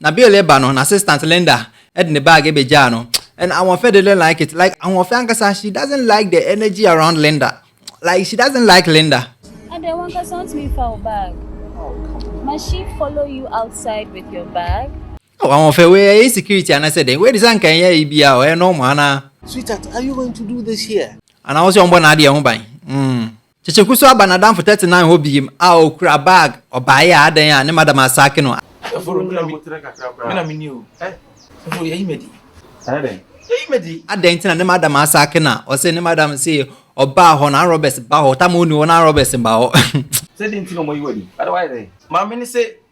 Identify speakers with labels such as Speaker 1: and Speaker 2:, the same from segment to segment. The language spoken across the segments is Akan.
Speaker 1: Na Bill reba no, n'assistant Linda de ne bag begyaa no. And Ahoɔfɛ didn't like it. Like, Ahoɔfɛ ankasa, she doesn't like the energy around Linda. Like, she doesn't like Linda. Ɛdeɛ wankasa wontumi mfa wo bag. Must she follow you outside with your bag? Oh, Ahoɔfɛ, wei ɛyɛ insecurity anaasɛ dɛn? Wei de sɛ anka ɛnyɛ yi bi a, ɔyɛ normal anaa? Sweetheart, are you going to do this here? Anaa wo sɛ ɔmbɔ n'adeɛ ho ban? Mm. Kyekye kuso aba n'adamfo thirty nine hɔ biem a okura bag ɔbaeɛ a adɛn a ne madam asaake no a. Sɔfo me na metere kakra koraa. Me na meni o eh sɔfo yɛyi me adi. Ayɛ dɛn? Yɛyi me adi. Adɛn nti na ne madam asaake no a ɔse ne madam se ɔbaa hɔ no arm robbers ba hɔ ɔtam a ɔnni hɔ no arm robbers mma hɔ. Sɛ dɛn nti na ɔmo ayi wo adi? Ada wayɛ dɛn? Maame no se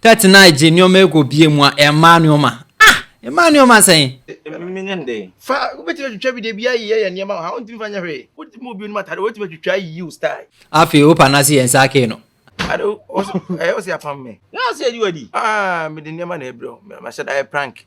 Speaker 1: Tattenai gye nneɛma ɛkɔ bie mu a ɛmmaa nneɛma ah ɛmmaa nneɛma sɛn. Ɛmimi ne den. Fa wobɛtumi atwitwa bi dabi ayi yɛ yɛ nneɛma wɔ ha wontumi fa nyɛ hwee wotumi bɔ obi onim atade wotumi atwitwa ayi wo style. Afei opa nase yɛ nsa kee no. Ade wo ɛyɛ wo sɛ apam me. Yɛ a sɛ yɛdi wadi. Ah mede nneɛma na ɛbrɛ wo mahyɛ da ayɛ prank.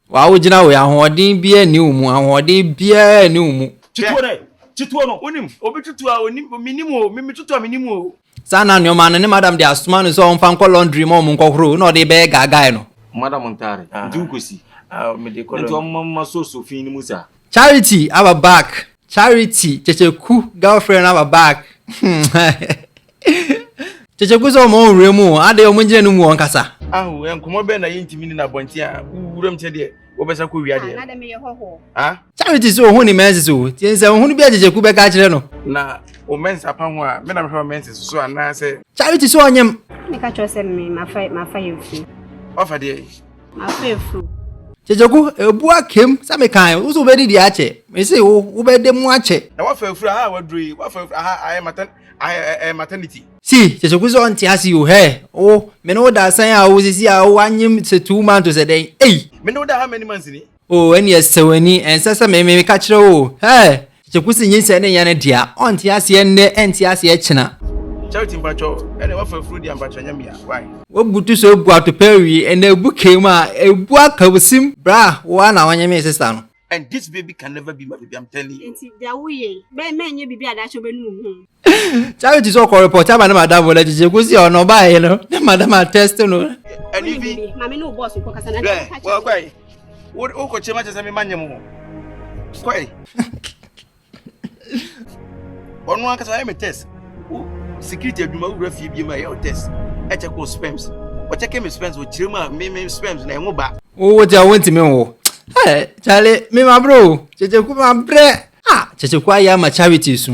Speaker 1: Waa wo gyina wei ahoɔden biaa nni wo mu ahoɔden biaa nni wo mu. Tutuo dɛ? Tutuo no wonim? Obi tutuo a onim menim oo me metutuo a menim oo. Saa na nnoɔma no ne madam de asoma no sɛ ɔmfa nkɔ laundry ma wɔn nkɔ horo na ɔde bɛyɛ guy guy no. Madam ntaare nti wo kɔ si. Nti ɔmma mma so so fii no mu saa. Charity aba back. Charity kyekyeku girlfriend aba back kyekyeku sɛ ɔma ɔwura mu o adɛn ɔmo ngyina no mu ɔnkasa. Ahu nkɔmɔ bɛn na yɛntumi nni no abɔnten a wowura mu sɛ deɛ wobɛsa kɔ wia deɛ no? Ah? Charity sɛ ohun ne menses o, tie nsɛmhunu bi a Kyekyeku bɛka akyerɛ no. Na wo menses apa ho a, me na mehwɛ wo menses so anaasɛ? Charity sɛ ɔnyem. Meka kyerɛ wo sɛ me, mafa, mafa yɛn fie. Wafa deɛn? Afei furu. Kyekyeku, ebu akem sɛ mekan wo so wobɛdi deɛ akyɛ. Mese wo, wobɛda mu akyɛ. Na woafa afuru aha a woaduru yi, woafa afuru aha a ɛyɛ matan, ɛyɛ maternity. See, Kyekyeku sɛ ɔnte ase o, hɛɛ, wo, me ne wo da asan a o, sisi a o, anyem sɛ two months o sɛ dɛn, ei. Me ne wo da how many months ni? O ɛneɛ sɛ w'ani, ɛnsɛ sɛ me, me, meka kyerɛ wo o, Hɛɛ! Kyekyɛ kusi nyinsɛn ne nyane dea, ɔnte aseɛ nnɛ, ɛnte aseɛ kyena. Charity mpakyɛw ɛnɛ wafa afuro di ampakyɛw nyɛ mea why. Wabutu so agu atopɛ awi ɛnɛ abu kee mu a ɛbu aka wo sim bra wo ara na wonye me sesa no. And this baby can never be my baby I'm telling you. Nti deɛ woyɛ yi bɛyɛ mɛnyɛ biribi a daakye wobɛnu wo ho. charity sɛ ɔkɔ report ama ne madamfo no akyekye ko si ɔno ɔbaeɛ no ne madam atest no ɛne bi wɔkɔe wokɔkyɛ ma kyɛ sɛ mema nyɛ mo hɔ kɔe ɔno ankasa ɔyɛ me test security adwuma wowura fie biom a ɛyɛ wo test ɛkyɛ kɔ sperms ɔkyɛ kɛ me sperms ɔkyerɛ mu a me me sperms na ɛho ba wowo kyɛ wontumi nwo kyale memabrɛ o kyekyeku mabrɛ a kyekyeku ayɛ ama charity so